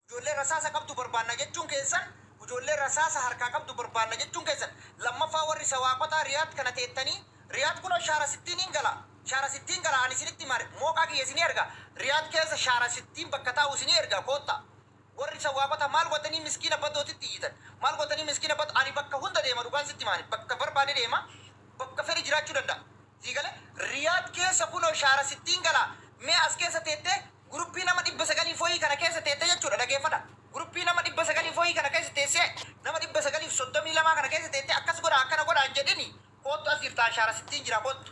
Ijoollee rasaasa qabdu barbaanna jechuun keessan Ijoollee rasaasa harkaa qabdu barbaanna jechuun keessan Lammaffaa warri Sawaaqotaa Riyaad kana teettanii Riyaad kunoo Shaara Sittiiniin gala Shaara Sittiin gala ani isinitti hima Mooqaa kiyya isinii erga Riyaad keessa Shaara Sittiin bakka taa'u isinii erga koottaa Warri san waaqota maal gottanii miskiina badootitti iyyitan? Maal gottanii miskiina badoo ani bakka hunda deema dhugaan sitti hima ani bakka barbaade deema bakka fedhe jiraachuu danda'a sii gale Riyad keessa kunoo shaara sittiin gala mee as keessa teettee guruppii nama 900 foyii kana keessa teetta jechuudha dhageeffadha guruppii nama 900 foyii kana keessa teessee nama 932 kana keessa teettee akkas godhaa akkana godhaa hin jedhini koottu as jirta an shaara sittiin jira koottu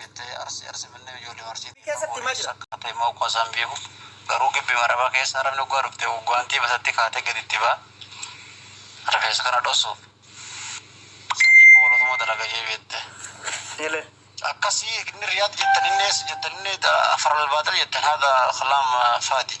Jettee Arsii Arsii Finfinnee ijoolleema Arsiitti keessatti himaa jira. Sakkaattee immoo akkuma isaan beeku garuu gibbi marabaa keessa arabni oggaa dhufte guwaantii matatti kaatee gadi itti ba'a rifeensa kana dhossuuf sanii poolotuma dalaga jee beette. Ele. Akkasii inni Riyaad jettan inni eessa jettan inni Afar Albaaxil jettan haadha kalaam faadi.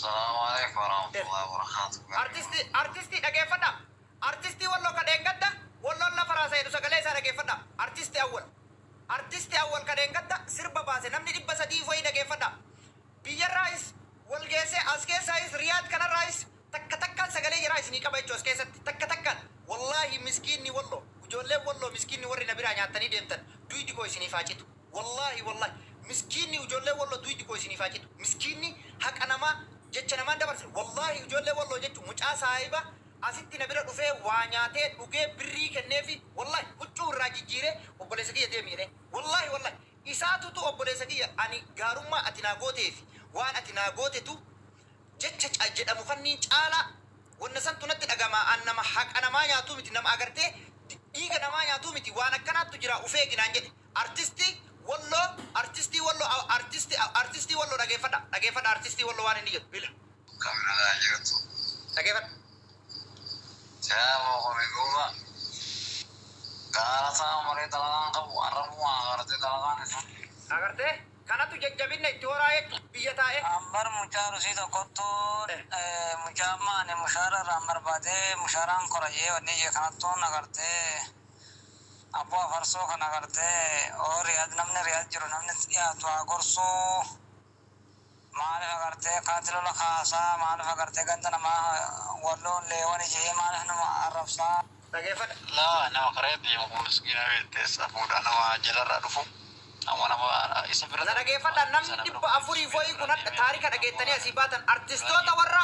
Salaamu Aleykum Warahmatullahi Wabarakatuh. Artisti Artisti dhageeffadha Artisti wallo ka dheengadda walloon lafa raasa jedhu sagalee isaa dhageeffadha Artisti Awwal Artisti Awwal ka dheengadda sirba baase namni 300 wayii dhageeffadha biyyarraayis wal geessee as keessaayis Riyaad kanarraayis takka takkaan sagalee jaraa isinii qaba jechuu as keessatti takka takkaan wallaahi miskiinni wallo ijoolleen wallo miskiinni warri na biraa nyaattanii deemtan duydi koo isiniif haa citu. Wallahi wallahi miskiinni ijoollee walloo duydi koo isiniif haa citu miskiinni haqa namaa jecha namaan dabarsine wallahi ijoollee walloo jechu mucaa saahiba asitti na bira dhufee waa nyaatee dhugee birrii kenneefi wallahi huccuu irraa jijjiiree obboleessa kiyya deemi jedhee wallahi wallahi isaatutu obboleessa kiyya ani gaarummaa ati naa gooteefi waan ati naa gootetu Jecha ca jedhamu kanniin caalaa wanna santu natti dhagama an nama haqa namaa nyaatuu miti nama agartee dhiiga namaa nyaatuu miti waan akkanaattu jira uf eegi naan jedhe artisti walloo artistii walloo a artisti a artistii walloo dhageeffadha dhageeffadha artistii walloo waan inni jedhu ila Akkam nagaa jirtu. dhageeffadha. Silaa koo kuni duuba gaara isaa malee dalagaan qabu arrabuma agartee dalagaan isaa. Agartee. Kanatu jajjabinna itti horaa jechu biyya taa'e. An bar mucaa arusii tokkottu mucaa amma ani mushaara irraan barbaade mushaaraan kora jee wanni jee kanattu na garte abboo afarsoo kana garte oo riyaad namni riyaad jiru namni itti dhiyaatu haa gorsu maalif agarte kanatti lola kaasa maalif agarte ganda namaa walloo leewani jee maalif nama arrabsa Dhageeffadha. Nama nama karaa irra deemu kun miskiina beekte safuudha nama jalarraa dhufu amma nama isa bira Na dhageeffadha namni dhibba afurii fo'ii kun hadha taarika dhageettanii asii baatan artistoota warra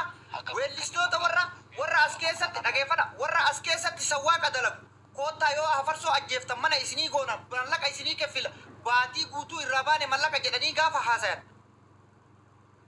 weellistoota warra warra as keessatti dhageeffadha warra as keessatti sawwaaqa dalagu koottaa yoo hafarsoo ajjeeftan mana isinii goona mallaqa isinii keffila baatii guutuu irraa baane mallaqa jedhanii gaafa haasayan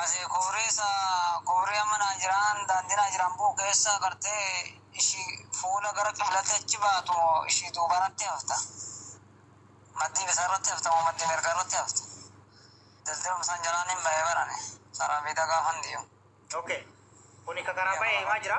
Asi kufrii sa kufrii amma naan jiraan daandii naa jiraan bu'u keessa gartee ishi fuula gara qiblatti achi baatu moo ishi duubanatti hafta maddii bitarratti hafta moo maddii mirgarratti hafta dildilum san jalaan hin bahe barane saraan fiida gaafan diyu. Ok kuni ka karaa bahe himaa jira.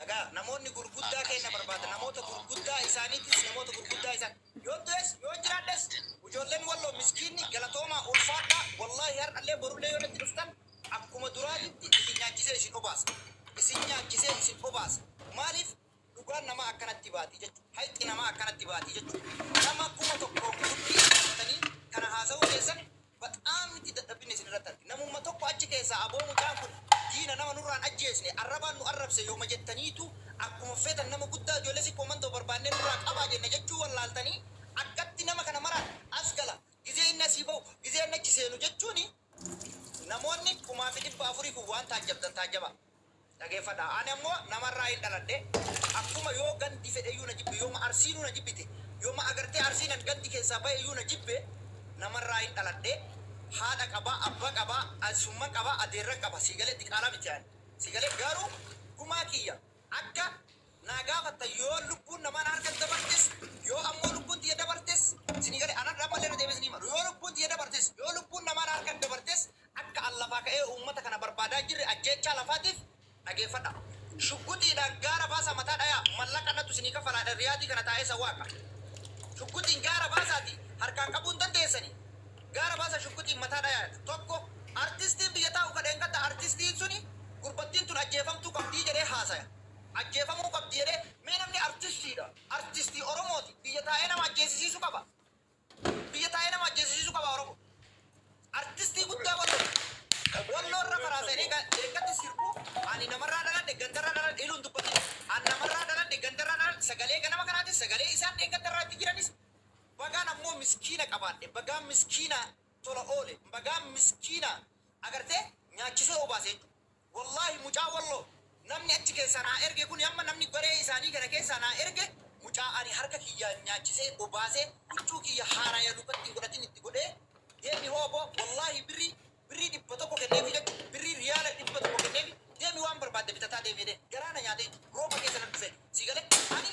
Dhaga'a, namoonni gurguddaa keenna barbaada, namoota gurguddaa isaaniitiis, namoota gurguddaa isaan. Yoon du'es, yoon jiraadhes, ujoolleen Walloo miskiinni, galatoomaa, ulfaadhaa, wallaahi har'allee borullee yoo natti dhuftan, akkuma duraatitti isin nyaachisee isin obaasa. Isin nyaachisee isin obaasa. Maaliif? Dhugaan namaa akkanatti baati jechu. Hayxi namaa akkanatti baati jechu. Nama kuma tokkoon gundii itti hattanii kana haasawuun keessan Baxaam itti dadhabbinne isin irratti arge. Namumma tokko achi keessaa aboo mucaan kun diina nama nurraa hin ajjeesne arrabaan nu arrabse yooma jettaniitu akkuma feetan nama guddaa ijoollee sikkoo mandoo barbaannee nurraa qabaa jenna jechuu wallaaltanii akkatti nama kana maraan as gala gizee inni asii bahu gizee inni achi seenu jechuun namoonni kumaafi dhibba afurii kun waan taajjabdan taajjabaa. Dhageeffadhaa! Ani ammo nama irraayin dhaladhe, akkuma yoo gandi fedheyyuu na jibbe, yooma Arsiinuu na jibbite, yooma agartee Arsiinan gandi keessaa bayeyyuu na jibbe, nama irraayin dhaladhe, haadha qaba, abba qaba, eessumman qaba, adeerran qaba. Sii galee? Diqaalaa miti ani. Sii galee? Garuu gumaa kiyya akka naa gaafattan yoo lubbuun namaa na harkatti dabartes, yoo ammoo lubbuun tiyya dabartes, isinii galee? Ani har'a ammallee irra deebi'ee isinii hima. Yoo lubbuun tiyya dabartes, yoo lubbuun namaa na harkatti dabartes, Akka an lafaa ka'ee uummata kana barbaadaa jirre ajjeechaa lafaatiif dhageeffadha. Shugguxiidhaan gaara baasaa mataa dhayaa. Mallaqa anatu isinii kafalaadha Riyaadii kana taa'ee isa waaqa. Shugguxiin gaara baasaatii harkaan qabuu hin dandeessanii. Gaara baasaa shugguxiin mataa dhayaa. 1, Artistiin biyya taa'u ka dheengadda artistiin suni gurbattiin tun ajjeefamtuu qabdii jedhee haasaya. Ajjeefamuu qabdi jedhee. Mee namni artistiidha, artistii Oromooti biyya taa'ee nama ajjeesisiisu qaba? Biyya taa'ee nama ajjeesisiisuu qabaa Oromo? Artistii guddaa Wallooti. Walloo irra faraa seenee leeggatti sirbu ani namarraa dhaladhe gandarraa dhaladhe jedhu hin dubbatin. An namarraa dhaladhe gandarraa dhaladhe sagalee ganama kanaatis sagalee isaan dheengaddarraa itti jiranis bagaan ammoo miskiina qabaadhe bagaan miskiina tola oole bagaan miskiina agartee nyaachisee obaase jechuudha. Wallahi mucaa wallo namni achi keessaa naa erge kuni amma namni garee isaanii kana keessaa naa erge mucaa ani harka kiyyaan nyaachisee obaasee huccuu kiyya haaraya lukatti hin godhatin itti godhee deemi hooboo wallahi birrii birrii dhibba tokko kenneefi jechu birrii riyaala dhibba tokko kenneefi deemi waan barbaadde bitataa deemi jedhee garaa na nyaatee rooba keessa nan dhufee sii galee ani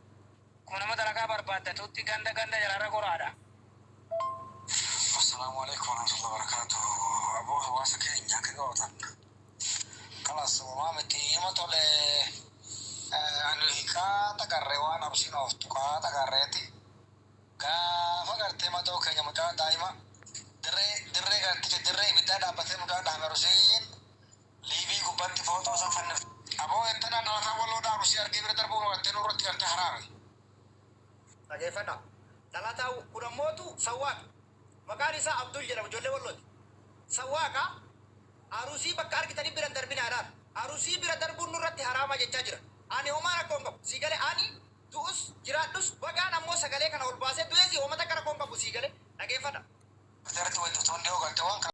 Akkuma nama dalagaa barbaaddatuutti ganda ganda jalaarra goraadha. Assalaamu aleykum warahmatullahi wabarakaatuh aboo hawaasa keenya akka gootan kalas uumaa miti ima tole ani hikaa xaqarree waan absiin of tuqaa xaqarreeti gaafa gartee madoo keenya mucaa daa'ima dirree dirree garticha dirree ibiddaa dhaabbatee mucaa dhaame rusiin Liivii gubbatti footoo san fannifte. Aboo eettanaa dhalataa Walloo dhaa Arusii argee bira darbuu marattee nurratti garte haraami. Dhageeffadhaa. Dhalataa kun ammootu Sawwaaqa. Maqaan isaa Abdul jedhama ijoollee Wallooti. Sawwaaqa Arusii bakka argitanii bira hin darbinaa jedhaan. Arusii bira darbuun nurratti haraama jechaa jira. Ani homaa rakkoo hin qabu. Sii galee? Ani du'us jiraadhus bagaan ammoo sagalee kana ol baasee du'eesi homa takka rakkoo hin qabu. Sii galee? Dhageeffadhaa. Jarti waytu tun dhiyoo galte waan kana.